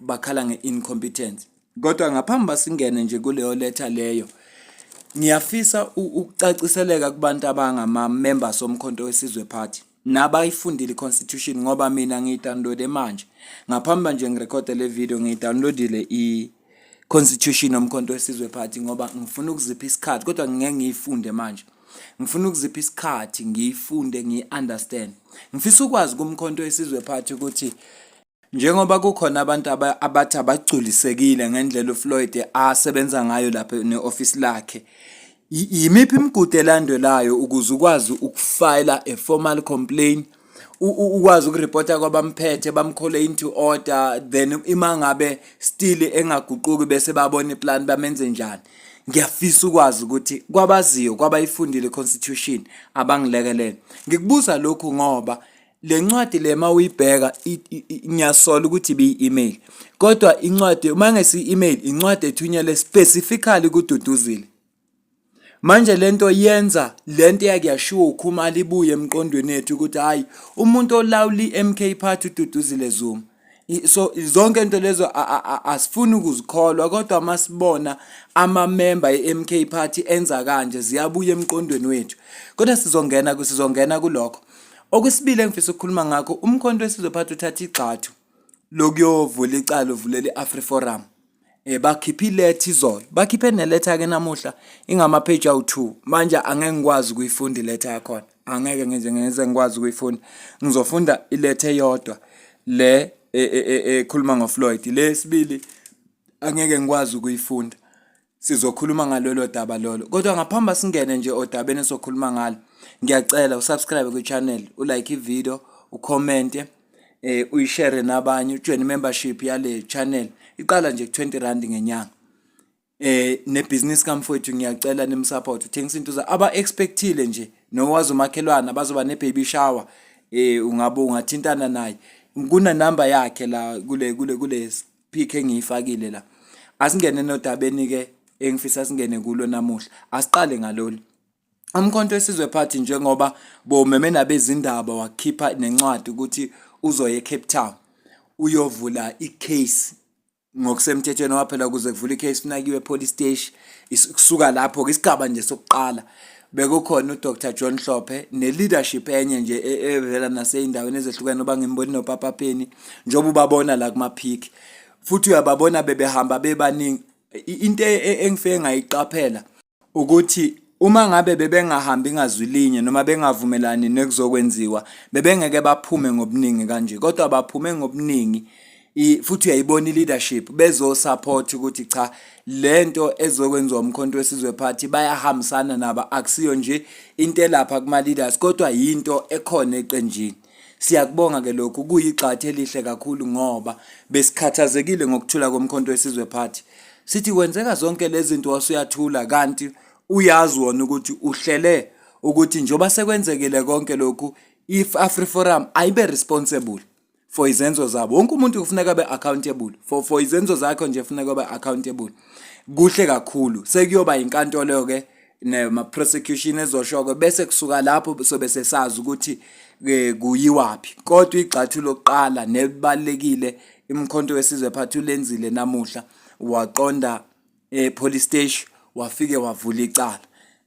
bakhala nge-incompetence kodwa ngaphambi basingene nje kuleyo letha leyo ngiyafisa ukucaciseleka kubantu abangama-members omkhonto wesizwe party nabayifundile i-constitution ngoba mina ngiyidownloade manje ngaphambi nje ngirekhode le video ngiyidownloadile i-constitution omkhonto wesizwe party ngoba ngifuna ukuzipha isikhathi kodwa ngingeke ngiyifunde manje ngifuna ukuzipha isikhathi ngiyifunde ngiyi-understand ngifisa ukwazi kumkhonto wesizwe party ukuthi Njengoba kukhona abantu abathi abagculisekile ngendlela uFloyd asebenza ngayo lapha ne-ofisi lakhe, yimiphi imigudu elandelayo ukuze ukwazi ukufayela a formal complaint ukwazi ukuripota kwabamphethe bamkhole into order then ima ngabe still engaguquki bese babona iplan bamenze njani ngiyafisa ukwazi ukuthi kwabaziyo kwabayifundile constitution abangilekelele ngikubuza lokhu ngoba le ncwadi le ma uyibheka ngiyasola ukuthi ibiyi-email kodwa incwadi uma ngesi-email incwadi ethunyelwe specifically kududuzile manje lento yenza lento yakuyashiwo ukhumala ibuye emqondweni ethu ukuthi hayi umuntu olawula iMK party ududuzile Zuma so zonke into lezo asifuni ukuzikholwa kodwa masibona amamemba eMK party enza kanje ziyabuya emqondweni wethu kodwa sizongena kusizongena kulokho okwesibili engifisa ukukhuluma ngakho umkhonto wesizophatha uthatha igxathu lokuyovula icala uvulela i-Afri Forum eh bakhipha ilethi izolo bakhiphe neletha ke namuhla ingama page awu 2 manje angeke ngikwazi ukuyifunda iletha yakhona angeke ngize ngeze ngikwazi ukuyifunda ngizofunda iletha eyodwa le e, e, e, ekhuluma ngoFloyd le sibili angeke ngikwazi ukuyifunda sizokhuluma ngalolo daba lolo kodwa ngaphambi singene nje odabeni esokhuluma ngalo ngiyacela usubscribe kwi channel ulike i video ucommente eh uyishare nabanye ujoin membership yale channel iqala nje 20 rand ngenyanga eh nebusiness kamfowethu ngiyacela nimsupport uthengisa into za aba expectile nje nowazi umakhelwana bazoba ne baby shower eh ungabe ungathintana naye kuna number yakhe la kule kule kule pick engiyifakile la asingene nodabeni ke engifisa singene kulo namuhla asiqale ngalolu Umkhonto wesizwe party njengoba bomeme nabezindaba wakhipha nencwadi ukuthi uzoya eCape Town uyovula icase ngokusemthethweni waphela kuze kuvula icase kunakiwe police station kusuka lapho ke isigaba nje sokuqala bekukhona uDr John Hlophe neleadership enye nje e, e, evela naseyindaweni ezehlukene oba ngimboni noPapa Penny njengoba ubabona la kumaphiki futhi uyababona bebehamba bebaningi into e, engifike ngayiqaphela ukuthi uma ngabe bebengahambi ngazwi linye noma bengavumelani nekuzokwenziwa bebengeke baphume ngobuningi kanje kodwa baphume ngobuningi futhi uyayibona i-leadership bezosupport ukuthi cha lento ezokwenziwa umkhonto wesizwe party bayahambisana nabo akusiyo nje into elapha kuma-leaders kodwa yinto ekhona eqenjini Siyakubonga ke lokhu kuyigxathe elihle kakhulu ngoba besikhathazekile ngokuthula komkhonto wesizwe party. Sithi kwenzeka zonke lezi zinto wasuyathula kanti uyazi wona ukuthi uhlele ukuthi njengoba sekwenzekile konke lokhu if Afri Forum ayibe responsible for izenzo zabo wonke umuntu kufuneka abe accountable for for izenzo zakho nje kufuneka abe accountable kuhle kakhulu sekuyoba inkantolo ke nema prosecution ezoshoko bese kusuka lapho sobe sesazi ukuthi eh, kuyiwaphi kodwa igxathu lokuqala nebalekile imkhonto wesizwe phathi ulenzile namuhla waqonda e police station wafike wavula icala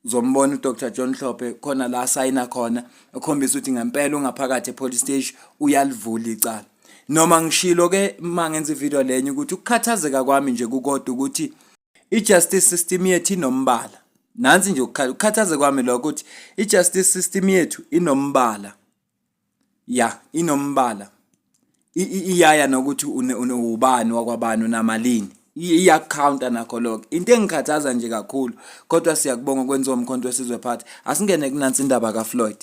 zombona uDr John Hlophe khona la sayina khona ekhombisa ukuthi ngempela ungaphakathi epolice station uyalivula icala noma ngishilo ke mangenza ivideo lenye ukuthi ukukhathazeka kwami nje kukodwa ukuthi I-justice system yethu inombala. Nansi nje ukukhala ukukhathaze kwami lokho ukuthi i-justice system yethu inombala. Ya, inombala. Iyaya nokuthi unewubani wakwabani unamalini. iyakukhawunta nakho lokho into engikhathaza nje kakhulu kodwa siyakubonga ukwenziwa umkhonto wesizwe phathi asingene kunansi indaba kafloyd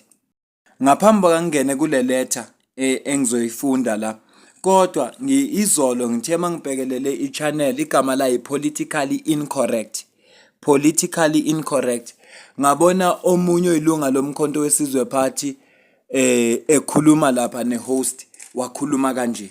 Ngaphambi kokuba ngingene kule letter eh, engizoyifunda la kodwa ngiyizolo ngithe uma ngibhekelele i-channel igama layo politically incorrect politically incorrect ngabona omunye oyilunga lomkhonto wesizwe party eh ekhuluma lapha ne-host wakhuluma kanje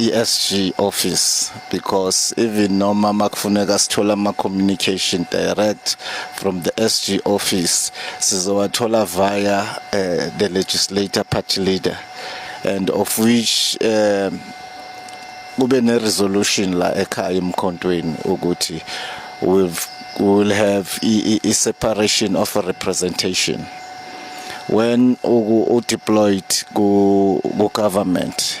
ESG office because even noma makufuneka sithola ama communication direct from the SG office sizowathola via uh, the legislator party leader and of which uh, kube ne resolution la ekhaya emkhontweni ukuthi we've will have a, a separation of a representation when u deployed ku government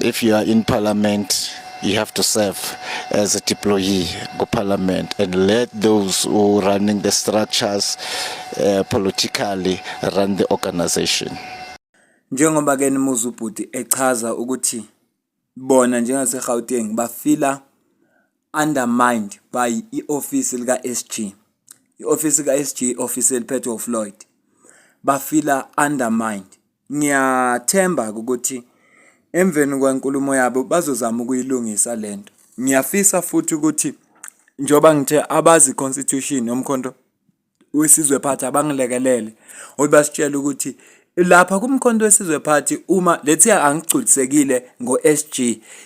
If you are in parliament you have to serve as a deployee go parliament and let those who running the structures uh, politically run the organization njengoba ke nimuza ubhuti echaza ukuthi bona njengaseGauteng bafila undermined by i-office lika-SG i-office ka-SG office eliphethwe uFloyd bafila undermined Ngiyathemba-ke ukuthi emveni kwenkulumo yabo bazozama ukuyilungisa le nto. Ngiyafisa futhi ukuthi njengoba ngithe abazi i-constitution yomkhonto wesizwe phathi abangilekelele ukuthi basitshele ukuthi lapha kumkhonto wesizwe phathi uma lethi angigculisekile ngo-SG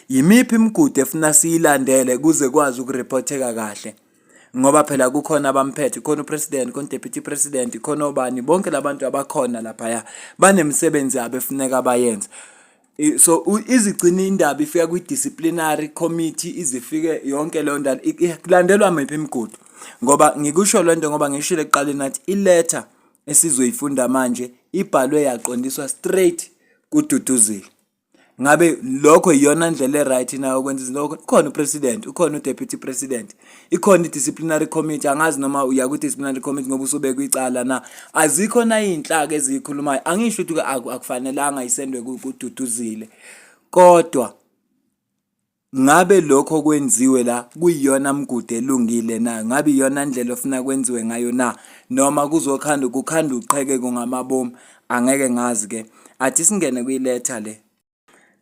yimiphi imigudu efuna siyilandele kuze kwazi ukureporteka kahle. ngoba phela kukhona abamphethe khona upresident khona deputy president khona obani bonke labantu abakhona laphaya banemisebenzi yabo efuneka bayenze so izigcina indaba ifika kwi-disciplinary committee izifike yonke leyo ndaba kulandelwa miphi imigudu ngoba ngikusho le nto ngoba ngishile ekuqaleni nathi iletha esizoyifunda manje ibhalwe yaqondiswa straight kududuzile ngabe lokho iyona ndlela e-right na yokwenza izinto ukhona upresident ukhona udeputy president ikhona i-disciplinary committee angazi noma uya kwi-disciplinary committee ngoba usobekwa icala na azikho na iy'nhlaka eziyikhulumayo angisho ukuthi akufanelanga isendwe kududuzile kodwa Ngabe lokho okwenziwe la kuyiyona mgudu elungile na? Ngabe iyona ndlela ofuna kwenziwe ngayo na? Noma kuzokhanda kukhanda uqhekeko ngamabomu? Angeke ngazi ke. Athi singene kwiletha le.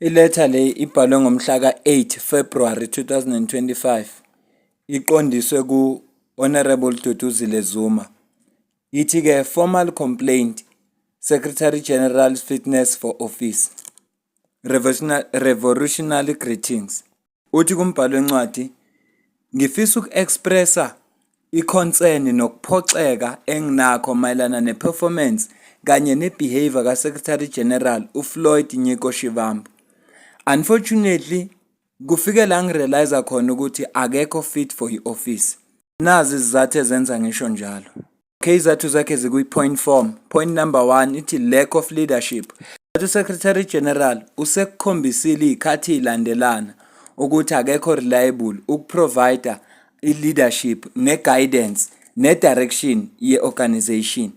Iletha le ibhalwe ngomhla ka-8 February 2025 iqondiswe ku-Honorable Duduzile Zuma. Ithi-ke formal complaint Secretary General's fitness for office. Revolutionary Greetings. Uthi kumbhalo wencwadi, ngifisa uku-expressa i-concern nokuphoxeka enginakho mayelana ne-performance kanye ne-behavior kaSecretary General uFloyd Nyiko Shivambu. Unfortunately, kufike la ngirealize khona ukuthi akekho fit for i-office. Nazi izizathu ezenza ngisho njalo. Izathu zakhe zikwi-point form. Point number one ithi lack of leadership. USecretary General usekukhombisile iy'khathi ilandelana ukuthi akekho reliable ukuprovider i-leadership ne-guidance ne-direction ye-organization.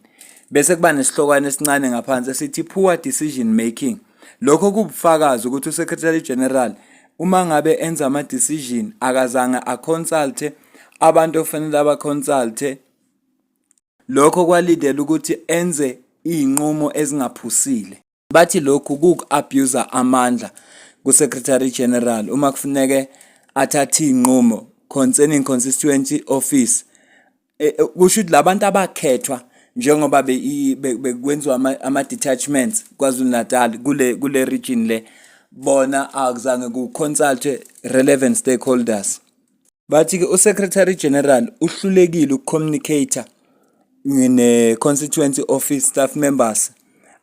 Bese kuba nesihlokwane esincane ngaphansi esithi poor decision making. Lokho kubufakazi ukuthi uSecretary General uma ngabe enza ama-decision akazange aconsulte abantu okufanele abaconsulte Lokho kwalindela ukuthi enze izinqumo ezingaphusile. Bathi lokhu kuwuku-abuser amandla kuSecretary General uma kufuneke athathe izinqumo concerning constituency office. E, e, kusho ukuthi labantu abakhethwa njengoba bekwenziwa ama-detachments KwaZulu-Natal kule kule region le bona akuzange ku-consultwe relevant stakeholders. Bathi-ke uSecretary General uhlulekile ukucommunicator ne-constituency office staff members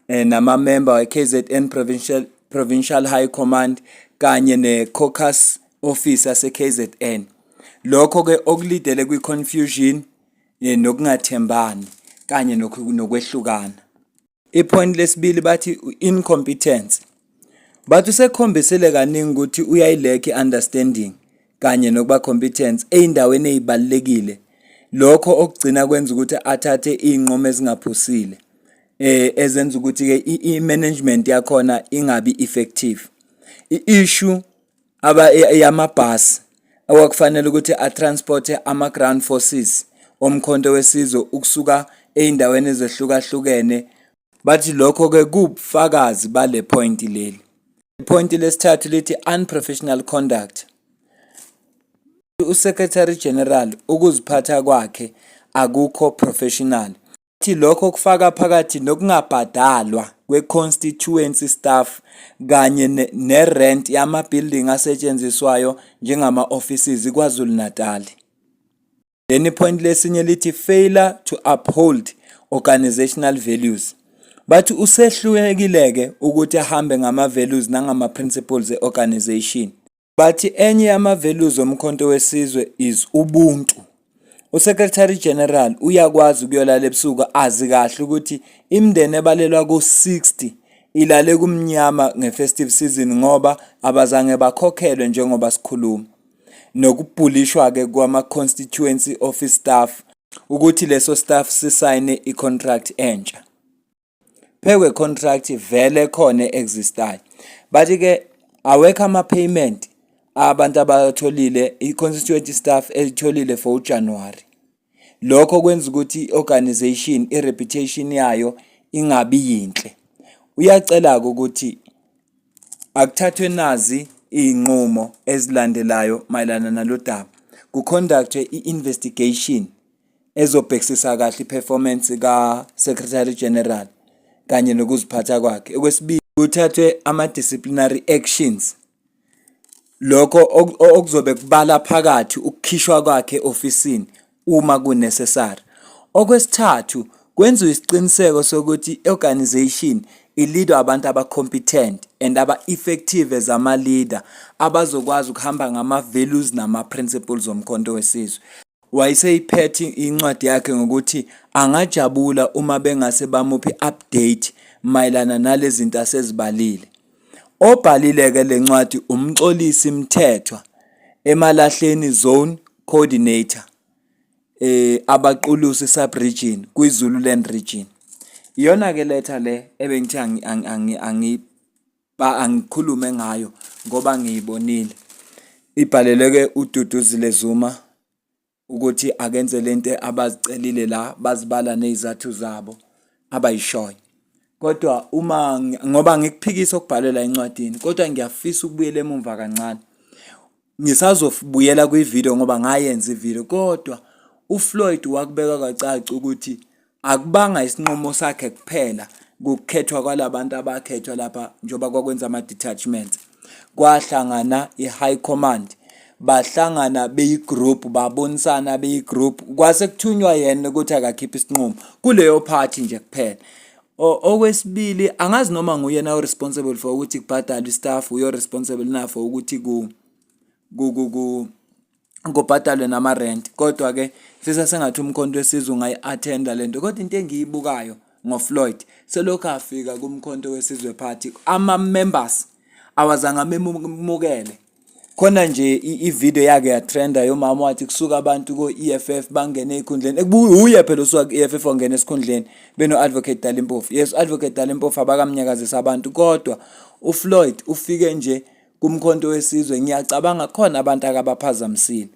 eh, namamemba we-KZN Provincial, Provincial High Command kanye ne-caucus office yase-KZN. Lokho-ke okulidele kwi-confusion eh, nokungathembani kanye nokwehlukana. Ipoint lesibili bathi incompetence. Bathi usekhombisile kaningi ukuthi uyayilekhi understanding kanye nokuba competence ezindaweni ezibalekile. Lokho okugcina kwenza ukuthi athathe izinqumo ezingaphusile. Eh ezenza ukuthi ke i management yakhona ingabi effective. I issue aba yamabhasi okwakufanele ukuthi atransporte ama-ground forces oMkhonto weSizwe ukusuka ezindaweni ezehlukahlukene bathi lokho-ke kuwubufakazi bale phoyinti leli. Iphoyinti lesithathu lithi unprofessional conduct. USecretary General ukuziphatha kwakhe akukho professional. Uthi lokho kufaka phakathi nokungabhadalwa kwe-constituency staff kanye ne-rent yama-building asetshenziswayo njengama-offices KwaZulu-Natal. Leli point lesinye lithi failure to uphold organizational values. Bathi usehlulekile-ke ukuthi ahambe ngama-values nangama-principles e-organization. Bathi enye yama-values oMkhonto weSizwe is ubuntu. USecretary General uyakwazi ukuyolala ebusuku azi kahle ukuthi imindeni ebalelwa ku-60 ilale kumnyama nge-festive season ngoba abazange bakhokhelwe njengoba sikhuluma. Nokubhulishwa-ke kwama-constituency office staff ukuthi leso staff sisayine i-contract entsha. phekwe contract vele khona existayo but ke awekho ama payment abantu abatholile i-constituency staff elitholile for uJanuary lokho kwenza ukuthi i-organization i-reputation yayo ingabi yinhle uyacela-ke ukuthi akuthathwe nazi iy'nqumo ezilandelayo mayelana nalo daba kukhondaktwe i-investigation ezobhekisisa kahle iperformance ka-secretary general kanye nokuziphatha kwakhe okwesibili kuthathwe ama-disciplinary actions lokho okuzobe kubala phakathi ukukhishwa kwakhe ofisini uma kunecessary okwesithathu kwenziwe isiqiniseko sokuthi i-organization ilidwa abantu aba-competent and aba-effective as ama-leader abazokwazi ukuhamba ngama-values nama-principles omkhonto wesizwe Wayeseyiphethe incwadi yakhe ngokuthi angajabula uma bengase bamuphe i-update mayelana nalezinto asezibalile. Obhalile-ke le ncwadi uMxolisi Mthethwa, eMalahleni Zone Coordinator, eh, Abaqulusi Sub-Region kwiZululand Region. Iyona-ke letter le ebengithe Ba angikhulume ngayo ngoba ngiyibonile. Ibhaleleke uDuduzile Zuma ukuthi akenze lento abazicelile la bazibala nezathu zabo abayishoyo. Kodwa uma ngoba ngikuphikisa okubhalwe la encwadini kodwa ngiyafisa ukubuyela emumva kancane. Ngisazobuyela kwividiyo ngoba ngayenza ividiyo kodwa uFloyd wakubeka kwacaca ukuthi akubanga isinqumo sakhe kuphela kukhethwa kwalabantu abakhethwa lapha njengoba kwakwenza ama-detachment kwahlangana i-high command bahlangana beyigroup babonisana beyigroup kwase kuthunywa yena ukuthi akakhiphe isinqumo kuleyo party nje kuphela Okwesibili angazi noma nguyena o responsible for ukuthi kubhadalwe istaff uyo responsible na for ukuthi ku ku ku ku kubhadalwe nama rent kodwa ke fisa sengathi umkhonto wesizwe ungayi attenda lento kodwa into engiyibukayo ngo Floyd selokhu afika kumkhonto wesizwe party ama members awazange amemukele khona nje i-video yake yatrenda yomama wathi kusuka abantu ko-EFF bangene ekhundleni uye phela osuka ku-EFF wangena esikhundleni beno-advocate Dali Mpofu yes u-advocate Dali Mpofu abakamnyakazisa abantu kodwa uFloyd ufike nje kumkhonto wesizwe ngiyacabanga khona abantu akabaphazamisile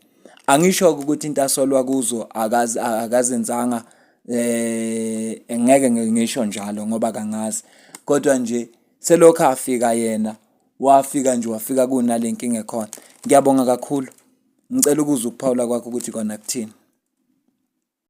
angisho ukuthi into asolwa kuzo akazi akazenzanga eh ngeke ngisho njalo ngoba kangazi kodwa nje selokhu afika yena wafika nje wafika kunale nkinga ekhona ngiyabonga kakhulu ngicela ukuza ukuphawula kwakho ukuthi kona kuthini